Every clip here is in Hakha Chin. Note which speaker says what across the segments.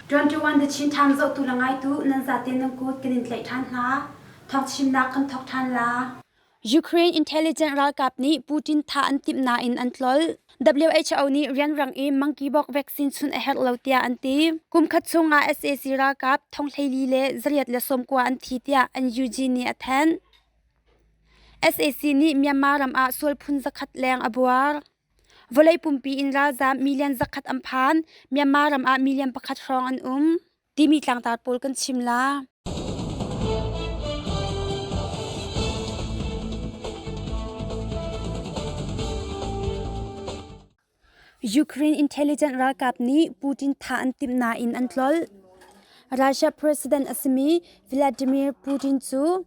Speaker 1: 21 the Chin Times zohtu le ngaitu nan zaten nan kut kan in tlaih ṭhan hna. Thawng chimnak kan thawk ṭhan la. Ukraine intelligence ralkap nih Putin thah an timh nain an tlolh. WHO nih rianrang i monkeypox vaccine sun a herh lo tiah an ti. Kumkhat chungah sac ralkap thonghleili le zariat le sawmkua an thi tiah NUG nih a thanh. SAC nih Myanmar ram ah sual phun zakhat leng a buar. Vawlei pumpi in ralzaam million zakhat an phan. Myanmar ram ah million pakhat hrawng an um. timi tlangtar pawl kan chim la. Ukraine intelligence ralkap nih Putin thah an timh nain an tlolh. Russia president a simi Vladimir Putin cu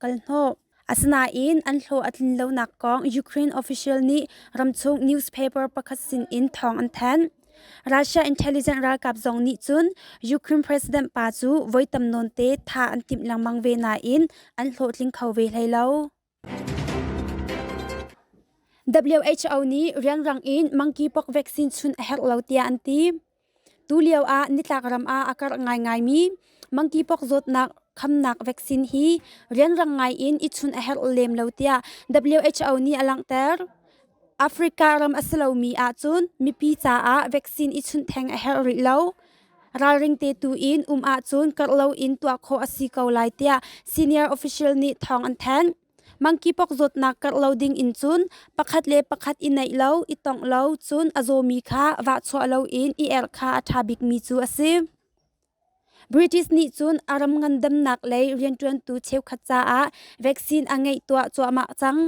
Speaker 1: kalhnawh. Asinain an hlawh a tlin lonak kong Ukraine official nih ramchung newspaper pakhat sinin thawng an thanh. Russia intelligence ralkap zong nih cun Ukraine president pa cu voi tam nawnte tha an timh lengmang ve nain an hlawhtling kho ve hlei lo. WHO nih rianrang in monkeypox vaccine chun a herh lo tiah an ti. Tulio ah nitlak ram ah a karh ngaingaimi monkeypox zawtnak khamnak vaccine hi rianrang ngaiin i chun a herh lem lo tiah WHO nih a langhter. Africa ram a si lomi ahcun mipi caah vaccine i chunh theng a herh rih lo. Ralring te tu in um ahcun karh loin tuah khawh a si ko lai tiah senior official nih thawng an thanh. Mangkipok zawtnak karh lo ding in cun pakhat le pakhat i neih lo, i tongh lo, cun a zawmi kha vahchuah loin i erh kha a ṭha bikmi cu a si. British nih cun a ram ngandamnak lei rianṭuantu cheukhat caah vaccine a ngeih tuah cuahmah cang.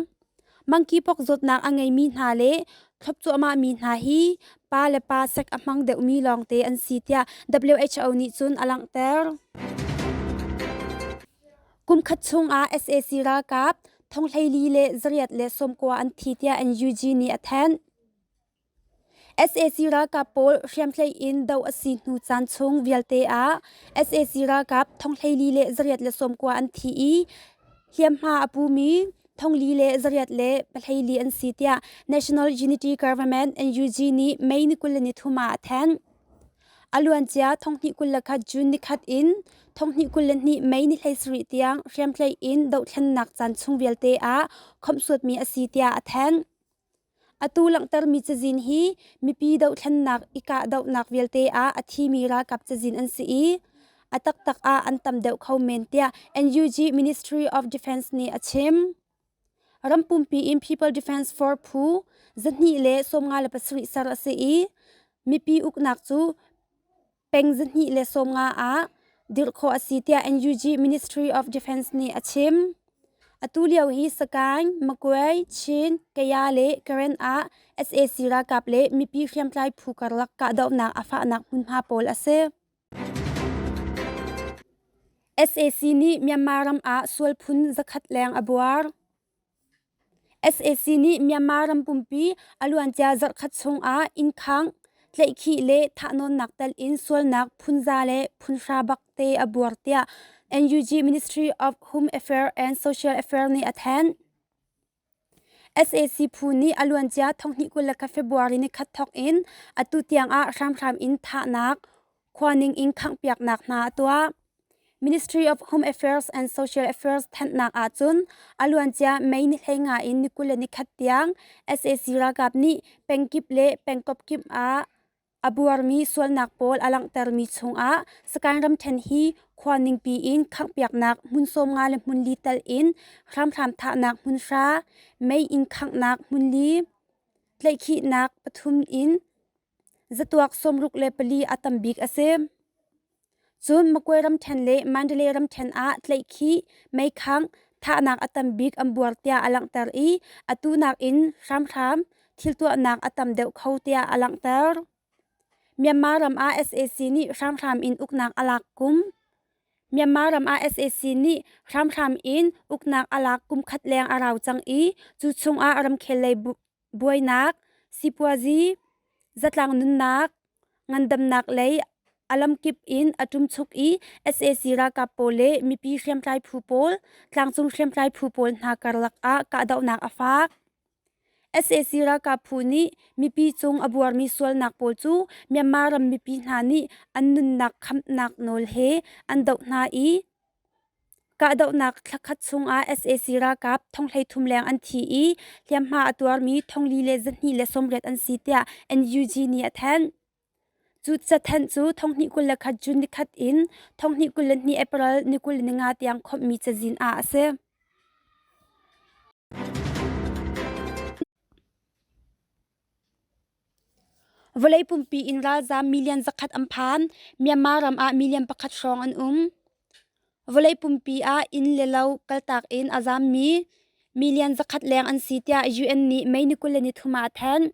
Speaker 1: Mangkipok zawtnak a ngeimi hna le thlop cuahmahmi hna hi pa le pa sek a hmang deuhmi lawngte an si tiah WHO nih cun a langhter. Kumkhat chungah sac ralkap thonghleili le zariat le sawmkua an thi tiah NUG nih a thanh. sac ralkap pawl hriamtlai in doh a si hnu caan chung vialte ah sac ralkap thonghleili le zariat le sawmkua an thi i hliamhma a pumi thonghli le zariat le pahleili an si tiah National Unity Government NUG nih May ni kul le nithum ah a thanh. A luancia thonghnih kul le khat June nikhat in thonghnih kul le hnih Mei ni hleisarih tiang hriamtlai in dohthlennak caan chung vialte ah khomhsuatmi a si tiah a thanh. Atu langhtermi cazin hi mipi dohthlennak i kahdohnak vialte ah a thimi ralkap cazin an si i a taktak ah an tam deuh kho men tiah NUG Ministry of Defence nih a chim. Rampumpi in People Defense Force phu zahnih le sawmnga le pasarih ser a si i mipi uknak cu peng zahnih le sawmnga ah dirh khawh a si tiah NUG Ministry of Defense nih a chim. Atu lio hi Sagaing, Magway, Chin, Kaya le Karen ah sac ralkap le mipi hriamtlai phu karlak kahdohnak a fahnak hmunhma pawl a si. SAC nih Myanmar ram ah sual phun zakhat leng a buar. SAC nih Myanmar ram pumpi a luancia zarhkhat chungah innkhang, tlaihkhih le thahnawnnak telin sualnak phunza le phunhra bak te a buar tiah NUG Ministry of Home Affairs and Social Affairs nih a thanh. sac phu nih a luancia thonghnih kul le khat february nikhat thawk in atu tiangah hramhram in thahnak khuaning in khanghpiaknak hna a tuah ministry of home affairs and social affairs thanhnak ahcun a luancia mei ni hlei nga in nikul le nikhat tiang sac ralkap nih pengkip le pengkawp kip ah A buarmi sualnak pawl a langhtermi chungah Sakain ramṭhen hi khua ningpi in khanghpiaknak hmun sawmnga le hmun li tal in hramhram thahnak hmun hra, mei inn khanghnak hmun li, tleihkhihnak pathum in zatuak sawmruk le pali a tam bik a si. Cun Magway ramṭhen le Mandalay ramṭhen ah tlaihkhih, meikhangh, thahnak a tam bik an buar tiah a langhter i atu nakin hramhram thiltuahnak a tam deuh kho tiah a langhter. Myanmar ram ah sac nih hramhram in uknak a lak kum Myanmar ram ah sac nih hramhram in uknak a lak kum khat leng a rau cang i cu chungah ramkhel lei bu buainak sipuazi zatlang nunnak ngandamnak lei a lamkip in a ṭumchuk i sac ralkap pawl le mipi hriamtlai phu pawl tlangcung hriamtlai phu pawl hna karlak ah kahdohnak a faak sac ralkap phu nih mipi cung a buarmi sualnak pawl cu myanmar ram mipi hna nih an nunnak khamhnak nawl he an doh hna i Kahdohnak thla khat chungah sac ralkap thong hleithum leng an thi i hliamhma a tuarmi thongli le zahnih le sawmriat an si tiah NUG nih a thanh. Cu cathanh cu thonghnih kul le khat June nikhat in thonghnih kul le hnih April ni kul le nga tiang khawmhmi cazin ah a si. Vawlei pumpi in ralzaam million zakhat an phan. Myanmar ram ah million pakhat hrawng an um. Vawlei pumpi ah inn le lo kaltak in a zaammi million zakhat leng an si tiah UN nih Mei ni kul le nithum ah a thanh.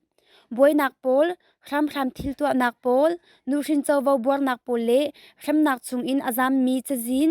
Speaker 1: Buainak pawl, hramhram thil tuahnak pawl, nuhrin covo buarnak pawl le hremnak chung in a zaammi cazin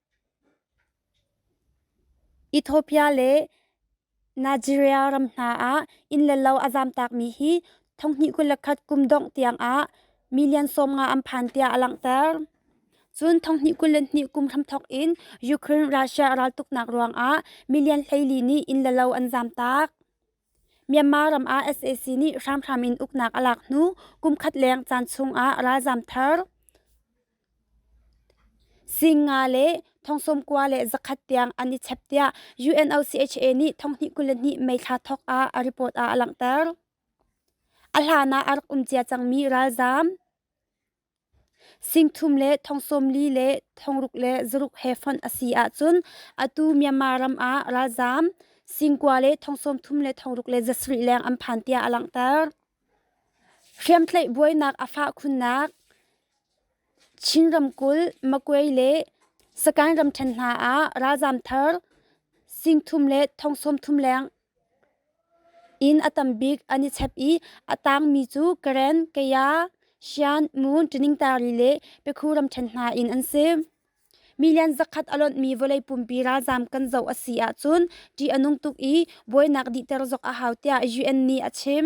Speaker 1: Ethiopia le Nigeria ram hna ah inn le lo a zamtakmi hi thonghnih kul le khat kum dongh tiangah million sawm nga an phan tiah a langhter. Cun thonghnih kul le hnih kum hramthawk in Ukraine Russia a raltuknak ruangah million hleili nih inn le lo an zamtak. Myanmar ram ah sac nih hramhram in uknak a lak hnu kumkhat leng caan chungah ralzaam thar sing nga le thongsawm kua le zakhat tiang an i chep tiah UNOCHA nih thonghnih kul le hnih May thla thawk ah a report ah a langhter. A hlan ah a rak um cia cangmi ralzaam Singthum le thongsawmli le thongruk le zaruk he fonh a si ahcun atu Myanmar ram ah ralzaam, singkua le thongsawmthum le thongruk le zasarih leng an phan tiah a langhter. Hriamtlaih buainak a fah khunnak Chin ramkulh Makwe le Sakaing ramṭhen hna ah ralzaam thar, singthum le thongsawmthum leng Inn a tam bik an i chep i a taangmi cu Karen, Kaya, Shan, Mun, Ṭiningtari le Pekhu ramṭhen hna in an si. Milian zakhat a lonhmi vawlei pumpi ralzaam kan zoh a si ahcun ṭih a nung tuk i buainak dihter zok a hau tiah UN nih a chim.